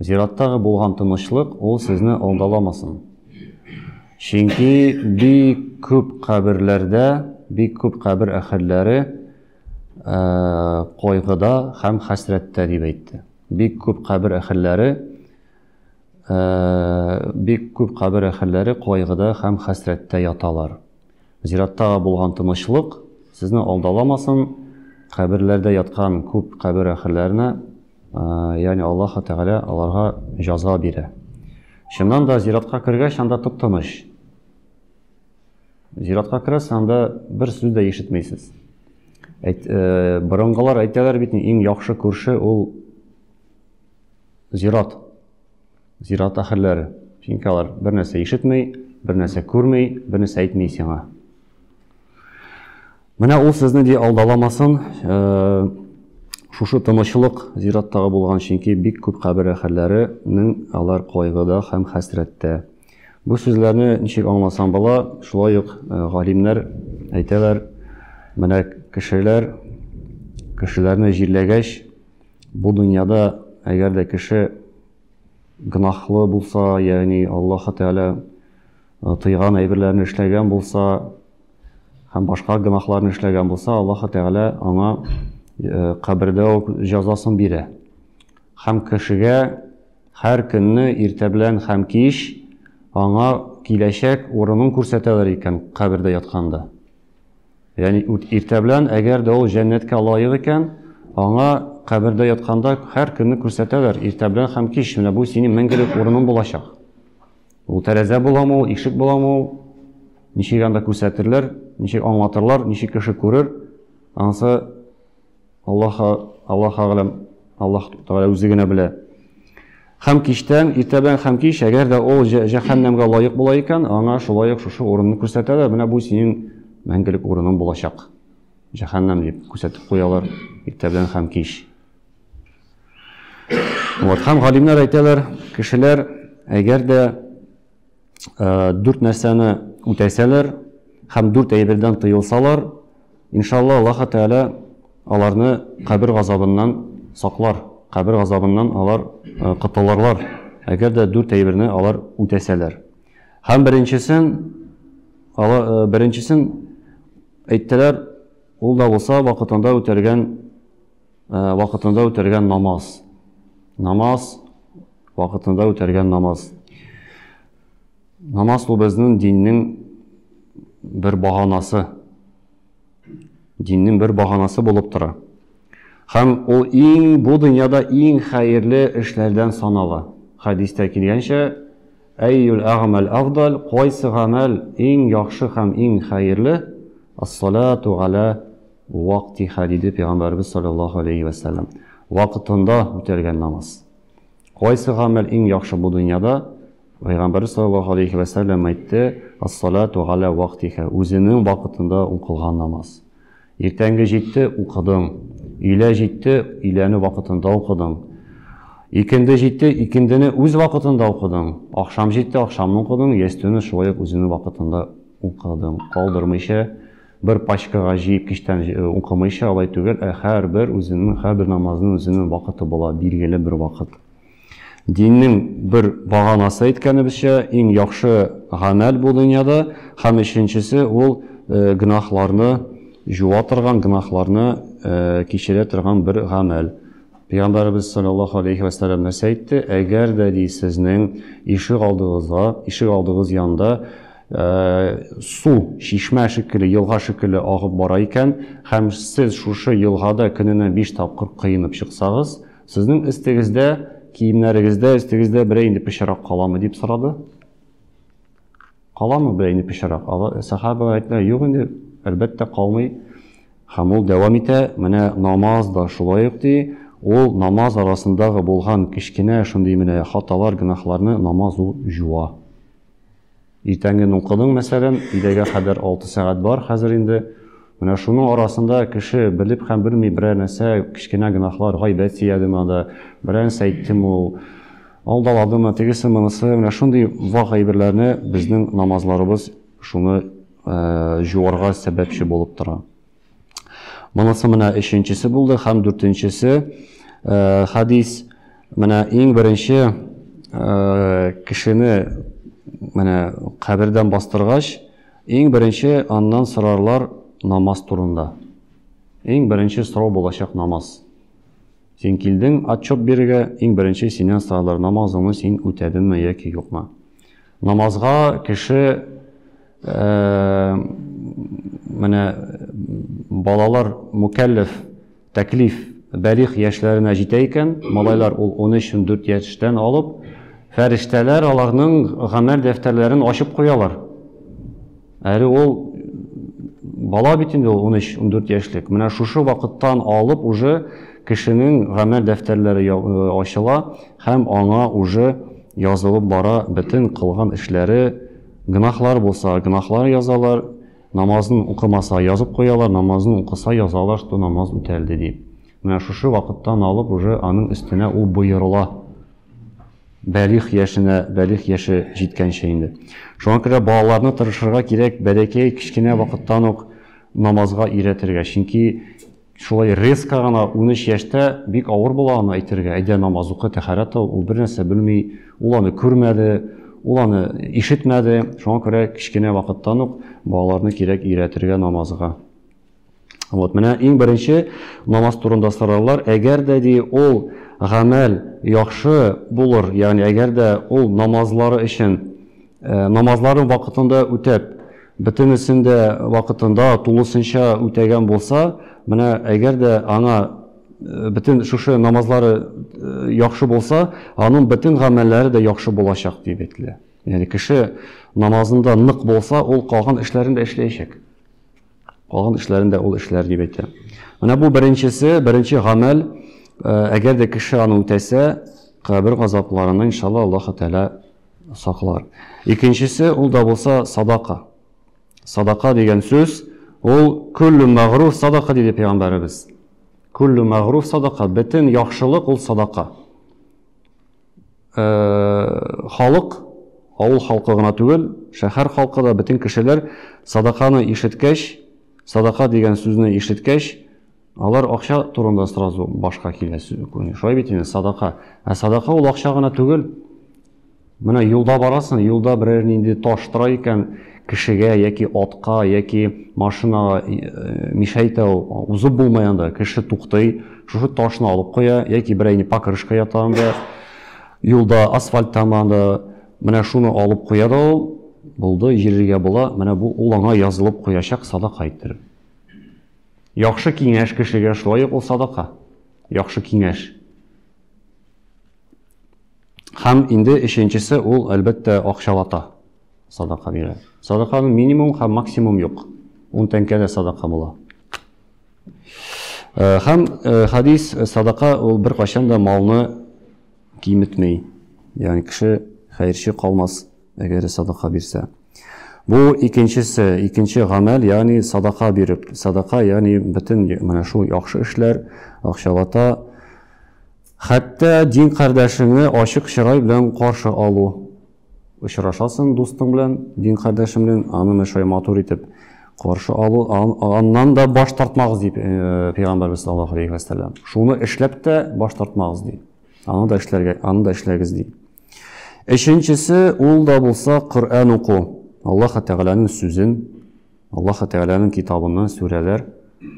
Зираттагы булган тынычлык ул сезне алдаламасын. Чөнки бик күп каберләрдә, бик күп кабер әһелләре э, кайгыда һәм хәсрәттә дип әйтте. Бик күп кабер әһелләре э, бик күп кабер әһелләре кайгыда һәм хәсрәттә яталар. Зиратта булган тынычлык сезне алдаламасын, каберләрдә яткан күп кабер әхирләренә, ягъни Аллаһ Тәгалә аларга җаза бирә. Чыннан да зиратка кергәч, анда тып-тыныч. Зиратка керәсез, анда бер сүз дә ишетмисез. Әйт, э, борынгылар әйтәләр бит, иң яхшы күрше ул зират. Зират ахирләре. Чөнки алар бер нәрсә ишетми, бер нәрсә күрми, бер нәрсә әйтми сиңа. Менә ул сезне ди алдаламасын, шушы тынычлык зираттагы булган, чөнки бик күп кабер ахирләренең алар кайгыда һәм хәсрәттә. Бу сүзләрне ничек аңласаң була, шулай ук галимнәр әйтәләр, менә кешеләр кешеләрне җирләгәч, бу дөньяда әгәр дә кеше гөнаһлы булса, ягъни Аллаһ Тәгалә э, тыйган әйберләрне эшләгән булса һәм башка гөнаһларны эшләгән булса, Аллаһ Тәгалә аңа э, кабердә үк җәзасын бирә. Һәм кешегә һәр көнне иртә белән һәм кич аңа киләчәк урынын күрсәтәләр икән кабердә ятканда. Ягъни иртә белән, әгәр дә ул җәннәткә лаек икән, аңа кабердә ятканда һәр көнне күрсәтәләр, иртә белән һәм кич, менә бу синең мәңгелек урының булачак. Ул тәрәзә буламы, ул ишек буламы, ул ничек анда күрсәтерләр, ничек аңлатырлар, ничек кеше күрер, анысы Аллаһ Аллаһ агалам, Аллаһ Тәгалә үзе генә белә. Хәм киштән, иртәдән хәм кич, әгәр дә ул җәһәннәмгә лаек була икән, аңа шулай ук шушы урынны күрсәтәләр, менә бу синең мәңгелек урының булачак. Җәһәннәм дип күрсәтеп куялар иртәдән хәм кич. Вот, хәм галимнәр әйтәләр, кешеләр, әгәр дә э, дүрт нәрсәне үтәсәләр һәм дүрт әйбердән тыелсалар, иншалла Аллаһ Тәгалә аларны кабер газабыннан саклар, кабер газабыннан алар э, котылырлар, әгәр дә дүрт әйберне алар үтәсәләр. Һәм беренчесен, э, беренчесен әйттеләр, ул да булса вакытында үтәлгән Ә, вакытында үтәргән намаз. Намаз, вакытында үтәргән намаз. Намаз бу безнең диннең бер баганасы. Диннең бер баганасы булып тора. Һәм ул иң бу дөньяда иң хәерле эшләрдән санала. Хәдистә килгәнчә, әйюл әгмәл афдал, кайсы гамәл иң яхшы һәм иң хәерле? Ас-салату гала Вак тиха, диде Пәйгамбәребез салләллаһу галәйһи вә сәлләм, вакытында үтәлгән намаз. Кайсы гамәл иң яхшы бу дөньяда? Пәйгамбәребез салләллаһу галәйһи вә сәлләм әйтте, Ас-салату галә вактиха, үзенең вакытында укылган намаз. Иртәнге җитте, укыдың. Өйлә җитте, өйләне вакытында укыдың. Икенде җитте, икендене үз вакытында укыдың. Ахшам җитте, ахшамны укыдың, ястүне шулай ук үзенең вакытында укыдың, калдырмыйча. Бер пачкага җыеп кичтән укымыйча, алай түгел, ә һәрбер үзенең, һәрбер намазның үзенең вакыты була, билгеле бер вакыт. Диннең бер баганасы әйткәнебезчә, иң яхшы гамәл бу дөньяда, һәм өченчесе ул гөнаһларны җуа торган, гөнаһларны кичерә торган бер гамәл. Пәйгамбәребез саллаллаһу алейһи вә сәлләм нәрсә әйтте? Әгәр дә ди сезнең ишегалдыгызга, ишегалдыгыз янында су чишмә шикелле, елга шикелле агып бара икән һәм сез шушы елгада көненә 5 тапкыр коенып чыксагыз, сезнең өстегездә, киемнәрегездә, өстегездә берәр инде пычрак каламы дип сорады. Каламы берәр инде пычрак? Сахабалар әйттеләр, юк инде, әлбәттә калмый. Һәм ул дәвам итә, менә намаз да шулай ук ди, ул намаз арасындагы булган кечкенә шундый менә хаталар, гөнаһларны намаз ул җуа. Иртәнге нукының мәсәлән, идәгә кадәр 6 сәгать бар хәзер инде. Менә шуның арасында кеше белеп һәм белми берәр нәрсә, кечкенә гөнаһлар, гайбәт сөйләде монда, берәр нәрсә әйтте мул, алдалады ма, тегесе монысы, менә шундый вак әйберләрне безнең намазларыбыз шуны җуарга сәбәпче булып тора. Монысы менә өченчесе булды һәм дүртенчесе э, хадис менә иң беренче э, кешене менә кабердән бастыргач, иң беренче аннан сорарлар намаз турында. Иң беренче сорау булачак намаз. Син килдең отчет бирергә, иң беренче синнән сорарлар намазыңны син үтәдеңме яки юкмы. Намазга кеше Э, менә балалар мукәлләф тәклиф бәлих яшьләренә җитә икән малайлар ул 13-14 яшьтән алып фәрештәләр аларның гамәл дәфтәрләрен ачып куялар әле ул бала бит инде ул 13-14 яшьлек менә шушы вакыттан алып уже кешенең гамәл дәфтәрләре э, ачыла һәм аңа уже язылып бара бөтен кылган эшләре Гөнаһлар булса, гөнаһлар язалар, намазын укымаса, язып куялар, намазын укыса, язалар, что намаз үтәлде дип. Менә шушы вакыттан алып уже аның өстенә ул боерыла. Бәлих яшенә, бәлих яше җиткәнче инде. Шуңа күрә балаларны тырышырга кирәк, бәләкәй кечкенә вакыттан ук намазга өйрәтергә. Чөнки Шулай резко гына унөч яшьтә бик авыр була аны әйтергә. Әйдә намаз укы, тәхарәт ал, ул бернәрсә белми, ул аны күрмәде, ул аны ишетмәде. Шуңа күрә кечкенә вакыттан ук балаларны кирәк өйрәтергә намазга. Вот, менә иң беренче намаз турында сораулар. Әгәр дә ди ул гамәл яхшы булыр, ягъни әгәр дә ул намазлары өчен Намазларын вакытында үтәп, бөтенесен дә вакытында, тулысынча үтәгән булса, менә әгәр дә аңа бөтен шушы намазлары яхшы булса, аның бөтен гамәлләре дә яхшы булачак дип әйтелә. Ягъни кеше намазында нык булса, ул калган эшләрен дә эшләячәк. Калган эшләрен дә ул эшләр дип әйтә. Менә бу беренчесе, беренче гамәл, әгәр дә кеше аны үтәсә, кабер газапларына иншалла Аллаһ Тәгалә Саклар. Икенчесе ул да булса садака. Садака дигән сүз ул күллү мәгруф садака диде пәйгамбәребез. Күллү мәгруф садака, бөтен яхшылык ул садака. Э, халык, авыл халкы гына түгел, шәһәр халкы да бөтен кешеләр садаканы ишеткәч, садака дигән сүзне ишеткәч, Алар акча турында сразу башка килә. Шулай бит инде, садака. Ә садака ул акча гына түгел. Менә юлда барасың, юлда берәр нинди таш тора икән, кешегә яки атка, яки машинага э, мешәйтә ул, узып булмый анда, кеше туктый, шушы ташны алып куя, яки берәйне покрышка ята анда, юлда асфальт тама анда, менә шуны алып куя да ул, булды, җирергә була, менә бу ул аңа язылып куячак садака иттереп. Яхшы киңәш кешегә шулай ук ул садака. Яхшы киңәш. Һәм инде өченчесе ул, әлбәттә, акчалата садака бирә. Садаканың минимум һәм максимум юк. Ун тәңкә дә садака була. Э, һәм э, хадис э, садака ул беркайчан да малны киметми. Ягъни кеше хәерче калмас. әгәр садака бирсә. Бу икенчесе, икенче гамәл, ягъни садака биреп, садака, ягъни бөтен менә шул яхшы эшләр, акчалата, хәтта дин кардәшеңне ачык чырай белән каршы алу. Очрашасың дустың белән, дин кардәшең белән, аны менә шулай матур итеп каршы алу, аннан да баш тартмагыз дип э, пәйгамбәрбез саллаллаху алейхи ва саллям. Шуны эшләп тә баш тартмагыз ди. Аны да эшләргә, аны да эшләгез ди. Өченчесе, ул да булса Коръән уку. Аллаһ Тәгаләнең сүзен, Аллаһ Тәгаләнең китабыннан сүрәләр,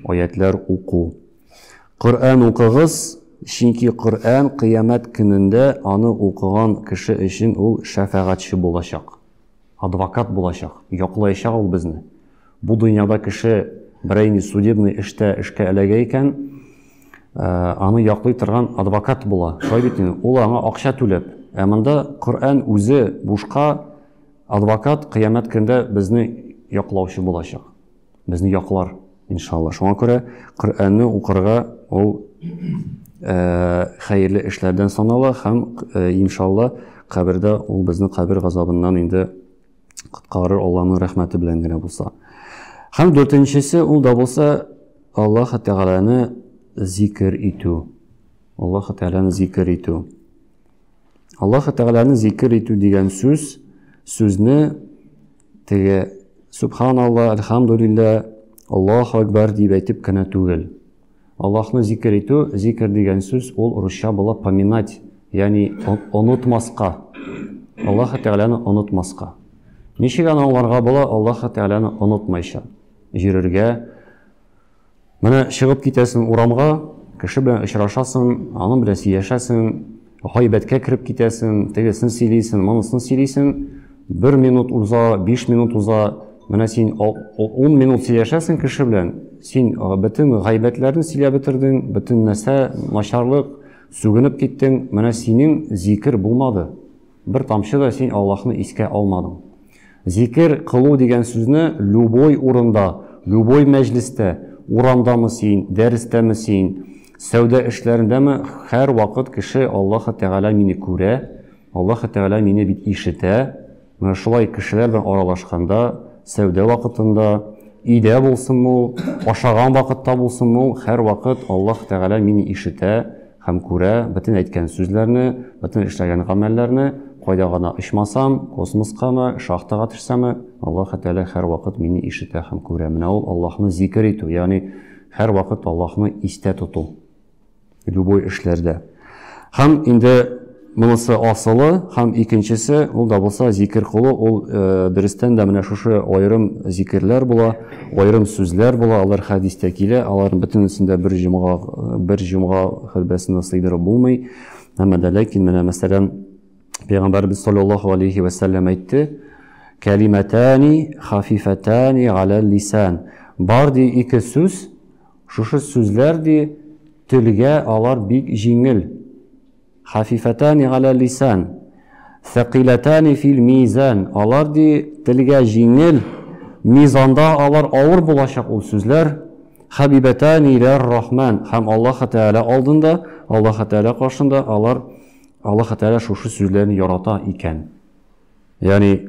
аятьләр уку. Коръән укыгыз, чөнки Коръән кыямәт көнендә аны укыган кеше өчен ул шәфәгатьче булачак. Адвокат булачак, яклаячак ул безне. Бу дөньяда кеше берәй ни судебный эштә эшкә эләгә икән, аны яклый торган адвокат була. Шулай бит инде, ул аңа акча түләп. Ә монда Коръән үзе бушка, адвокат кыямәт көндә безне яклаучы булачак. безне яклар, иншалла. Шуңа күрә Коръәнне укырга ул э, хәерле эшләрдән санала һәм э, иншалла кабердә ул безне кабер газабыннан инде коткарыр Аллаһның рәхмәте белән генә булса. Һәм дүртенчесе ул да булса Аллаһ Тәгаләне зикр итү. Аллаһ Тәгаләне зикр итү. Аллаһы Тәгаләне зикер итү дигән сүз, сүзне теге Субханалла, Әлхәмдулилла, Аллаһу Акбар дип әйтеп кенә түгел. Аллаһны зикер итү, зикер дигән сүз ул русча була поминать, ягъни онытмаска. Аллаһы Тәгаләне онытмаска. Ничек аны аңларга була Аллаһы Тәгаләне онытмайча? Йөрергә, Менә чыгып китәсең урамга, кеше белән очрашасың, аның белән сөйләшәсең, гайбәткә кереп китәсең, тегесен сөйлисең, монысын сөйлисең, бер минут уза, биш минут уза, менә син ун минут сөйләшәсең кеше белән, син бөтен гайбәтләрне сөйләп бетердең, бөтен нәрсә начарлык, сүгенеп киттең, менә синең зикер булмады. Бер тамчы да син Аллаһны искә алмадың. Зикер кылу дигән сүзне любой урында, любой мәҗлестә, урамдамы син, дәрестәме син, сәүдә эшләрендәме, һәрвакыт кеше Аллаһы Тәгалә мине күрә, Аллаһы Тәгалә мине бит ишетә, менә шулай кешеләр белән аралашканда, сәүдә вакытында, өйдә булсынмы ул, ашаган вакытта булсынмы ул, һәрвакыт Аллаһы Тәгалә мине ишетә, һәм күрә бөтен әйткән сүзләрне, бөтен эшләгән гамәлләрне, кайда гына очмасам, космоскамы, шахтага төшсәме, Аллаһ Тәгалә һәрвакыт мине ишетә һәм күрә. Менә ул Аллаһны зикер итү, ягъни һәрвакыт Аллаһны истә тоту любой эшләрдә. Һәм инде Монысы асылы һәм икенчесе, ул да булса зикер кылу, ул дөрестән дә менә шушы аерым зикерләр була, аерым сүзләр була, алар хәдистә килә, аларның бөтенесен дә бер җомга, бер җомга хөтбәсенә сыйдырып булмый. Әмма дә ләкин менә мәсәлән Пәйгамбәрбез саллаллаһу алейхи вә сәлләм әйтте, кәлимәтәни хафифәтәни галәл лисан. Бар ди ике сүз, шушы сүзләр ди телгә алар бик җиңел. Хафифатани галә лисан, сәкилатани фил мизан. Алар ди телгә җиңел, мизанда алар авыр булачак ул сүзләр. Хабибатани илә рахман. Һәм Аллаһ Тәгалә алдында, Аллаһ Тәгалә каршында алар Аллаһ Тәгалә шушы сүзләрне ярата икән. Ягъни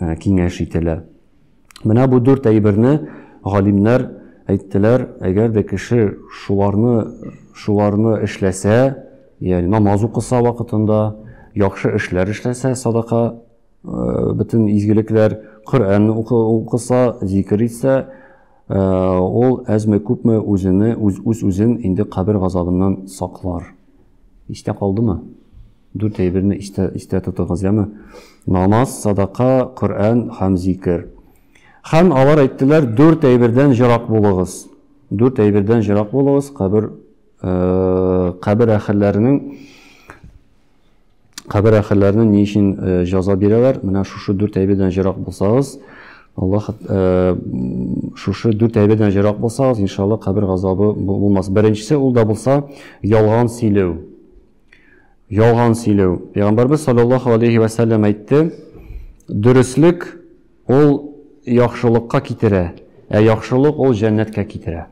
э, киңәш ителә. Менә бу дүрт әйберне галимнәр әйттеләр, әгәр дә кеше шуларны шуларны эшләсә, ягъни намаз укыса вакытында, яхшы эшләр эшләсә, садака э, бөтен изгелекләр, Коръән укыса, зикер итсә, э, ул әзме күпме үзене үз үзен инде кабер газабыннан саклар. Истә калдымы? Дүрт әйберне истә, истә тотыгыз, яме? Намаз, садака, Коръән һәм зикер. Һәм алар әйттеләр, дүрт әйбердән җырак булыгыз. Дүрт әйбердән җырак булыгыз, кабер э, кабер әһелләренең кабер әһелләренең ни өчен э, җаза бирәләр? Менә шушы дүрт әйбердән җырак булсагыз, Аллаһ э, шушы дүрт әйбердән җырак булсагыз, иншалла кабер газабы булмас. Беренчесе ул да булса, ялган сөйләү. Ялган сөйләү. Пәйгамбәрбез саллаллаху алейхи вә сәлләм әйтте, дөреслек ул яхшылыкка китерә, ә яхшылык ул җәннәткә китерә.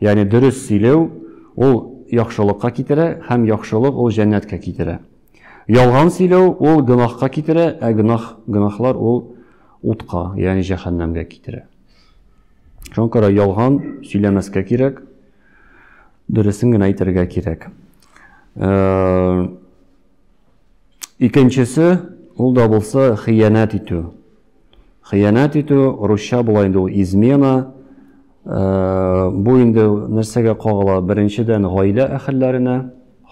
Ягъни дөрес сөйләү ул яхшылыкка китерә һәм яхшылык ул җәннәткә китерә. Ялган сөйләү ул гөнаһка китерә, ә гөнаһ гөнаһлар ул утка, ягъни җәһәннәмгә китерә. Шуңа күрә ялган сөйләмәскә кирәк, дөресен генә әйтергә кирәк. Э, икенчесе ул да булса хыянәт итү хыянәт итү русча була инде ул измена э, бу инде нәрсәгә кагыла беренчедән гаилә әхелләренә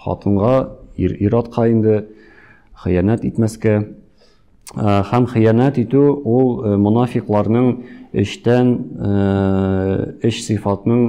хатынга ир ир атка инде хыянәт итмәскә э, һәм хыянәт итү ул монафикларның эштән эш сыйфатының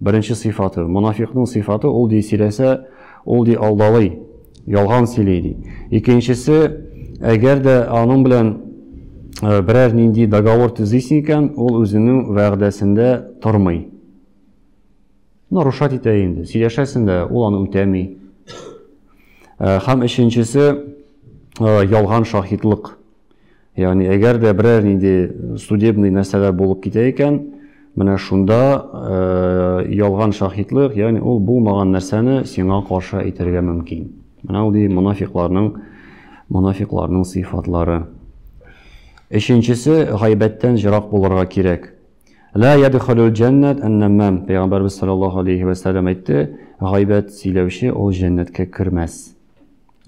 Беренче сыйфаты, монафикъның сыйфаты, ул ди сөйләсә, ул ди алдалый, ялган сөйли ди. Икенчесе, әгәр дә аның белән берәр нинди договор төзисең икән, ул үзенең вәгъдәсендә тормый. Нарушать итә инде, сөйләшәсең дә, ул аны үтәми. Һәм өченчесе, ялган шаһидлык. Ягъни әгәр дә берәр нинди судебный нәрсәләр булып китә икән, менә шунда э, ялган шаһитлык, ягъни ул булмаган нәрсәне сиңа каршы әйтергә мөмкин. Менә ул ди мунафикларның мунафикларның сыйфатлары. Өченчесе гайбәттән җырак булырга кирәк. Ла ядхулул джаннат аннамам. Пәйгамбәрбез саллаллаһу алейхи ва саллям әйтте, гайбәт сөйләүче ул җәннәткә кермәс.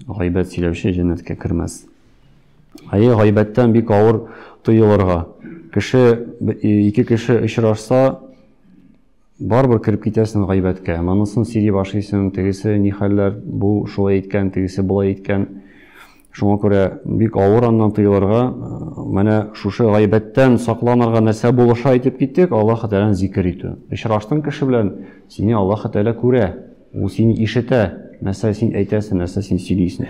Гайбәт сөйләүче җәннәткә кермәс. Әйе, гайбәттән бик авыр тыелырга. Кеше ике кеше очрашса, барыбер кереп китәсең гайбәткә. Монысын сөйли башлыйсың, тегесе ни хәлләр, бу шулай әйткән, тегесе болай әйткән. Шуңа күрә бик авыр аннан тыелырга. Менә шушы гайбәттән сакланырга нәрсә булыша әйтеп киттек, Аллаһ Тәгаләне зикер итү. Очраштың кеше белән, сине Аллаһ Тәгалә күрә. Ул сине ишетә, нәрсә син әйтәсең, нәрсә син сөйлисең.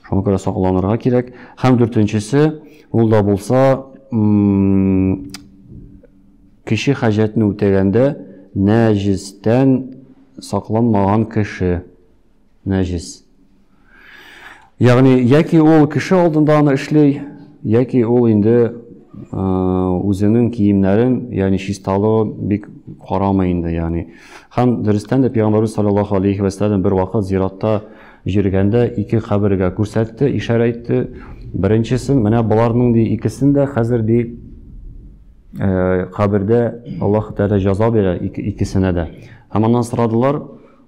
Шуңа күрә сакланырга кирәк. Һәм дүртенчесе, ул да булса, кеше хаҗәтне үтәгәндә нәҗестән сакланмаган кеше. Нәҗес. Ягъни, яки ул кеше алдында аны эшли, яки ул инде үзенең киемнәрен, ягъни чисталыгы бик карамый инде, ягъни. Һәм дөрестән дә пәйгамбәрбез саллаллаһу алейхи ва саллям бер вакыт зиратта җиргәндә ике кабергә күрсәтте, ишарә итте. Беренчесен, менә боларның ди икесен дә хәзер ди э, кабердә Аллаһ Тәгалә җаза бирә икесенә дә. Һәм аннан сорадылар,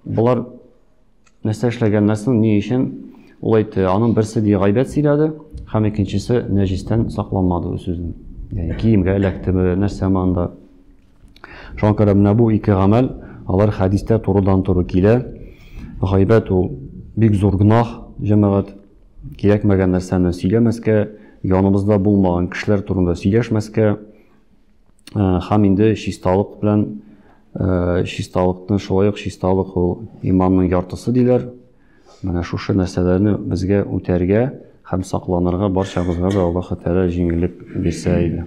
болар нәрсә эшләгәннән соң ни өчен ул әйтте аның берсе ди гайбәт сөйләде һәм икенчесе нәҗистән сакланмады үз сүзен яғни киемгә эләктеме нәрсәме анда шуңа күрә менә бу ике гамәл алар хәдистә турыдан туры килә гайбәт ул бик зур гөнаһ җәмәгать кирәкмәгән нәрсәне сөйләмәскә яныбызда булмаган кешеләр турында сөйләшмәскә Һәм инде чисталык белән чисталыкны шулай ук чисталык ул иманның яртысы диләр. Менә шушы нәрсәләрне безгә үтәргә һәм сакланырга барчабызга да Аллаһ Тәгалә җиңеллек бирсә иде.